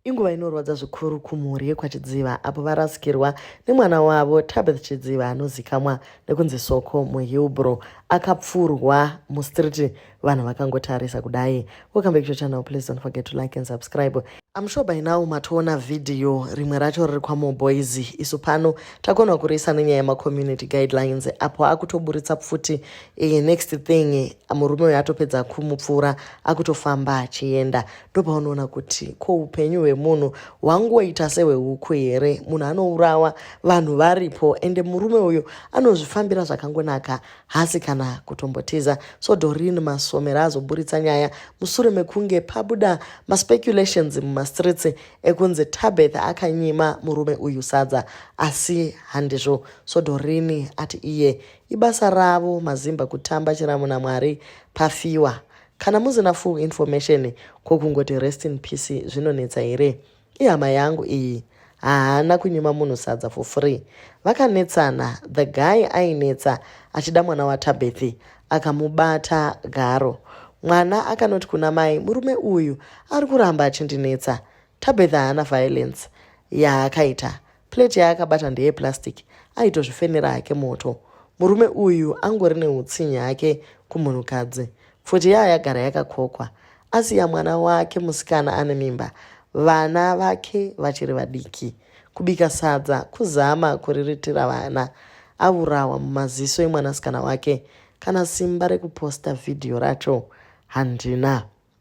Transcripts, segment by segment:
Inguva inorwadza zvikuru kumhuri yekwaChidziva apo varasikirwa nemwana wavo Tabeth Chidziva anozikamwa nekunzi Soko muHillbrow akapfurwa mustreet vanhu vakangotarisa kudai. Welcome back to your channel. Please don't forget to like and subscribe. I'm sure by now matoona video rimwe racho riri kwaMo Boys. Isu pano takona kuriisa nenyaya yemacommunity guidelines apo akutoburitsa pfuti e, next thing murume uyo atopedza kumupfuura akutofamba achienda. ndopaunoona kuti ko upenyu hwemunhu hwangoita sehwehuku here munhu anourawa vanhu varipo ende murume uyu anozvifambira zvakangonaka hasi kana kutombotiza so dorin masomera azoburitsa nyaya musure mekunge pabuda maspeculations mumastreets ekunzi tabeth akanyima murume uyu sadza asi handizvo so dorin ati iye ibasa ravo mazimba kutamba chiramu namwari pafiwa Kana musina full information ko kungoti rest in peace zvinonetsa here? Ihama yangu iyi haana kunyima munhu sadza for free. Vakanetsana the guy ainetsa achida mwana waTabethi akamubata garo. Mwana akanoti kuna mai murume uyu ari kuramba achindinetsa. Tabethi haana violence yaakaita Plate yaakabata ndeye plastic aitozvifenera hake moto. Murume uyu angori neutsinye hake kumunhukadzi. Pfuti yaya yagara yakakokwa. Asiya mwana wake musikana ane mimba. Vana vake vachiri vadiki. Kubika sadza kuzama kuriritira vana. Avurawa mumaziso emwanasikana wake. Kana simba rekuposta vhidhiyo racho handina.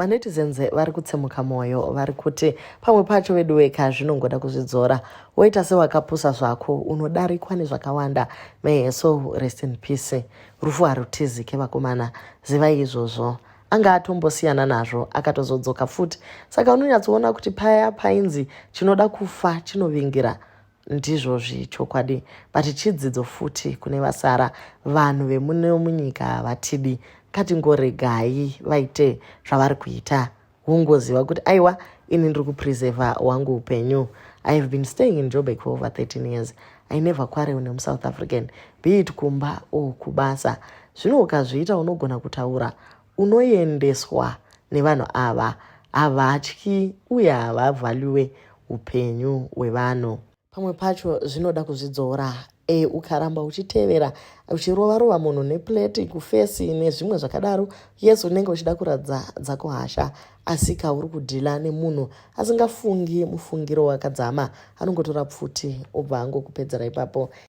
manetizens vari kutsemuka mwoyo vari kuti pamwe pacho veduweka zvinongoda kuzvidzora woita sewakapusa zvako unodarikwa nezvakawanda may so rest in peace rufu harutizike vakomana zivai izvozvo anga atombosiyana nazvo akatozodzoka futi saka unonyatsoona kuti paya painzi chinoda kufa chinovingira ndizvozvi chokwadi but chidzidzo futi kune vasara vanhu vemuno munyika havatidi ngatingoregai vaite zvavari kuita wongoziva kuti aiwa ini ndiri kupreseva wangu upenyu i have been staying in jobek for over 13 years i never quarrel nemusouth african be it kumba or kubasa zvino ukazviita unogona kutaura unoendeswa nevanhu ava havatyi uye havavhalyuwe upenyu hwevanhu pamwe pacho zvinoda kuzvidzora e, ukaramba uchitevera uchirova rova munhu neplate kufesi nezvimwe zvakadaro yes unenge uchida kuradza dzako hasha asi ka uri kudhila nemunhu asingafungi mufungiro wakadzama anongotora pfuti obva angokupedzera ipapo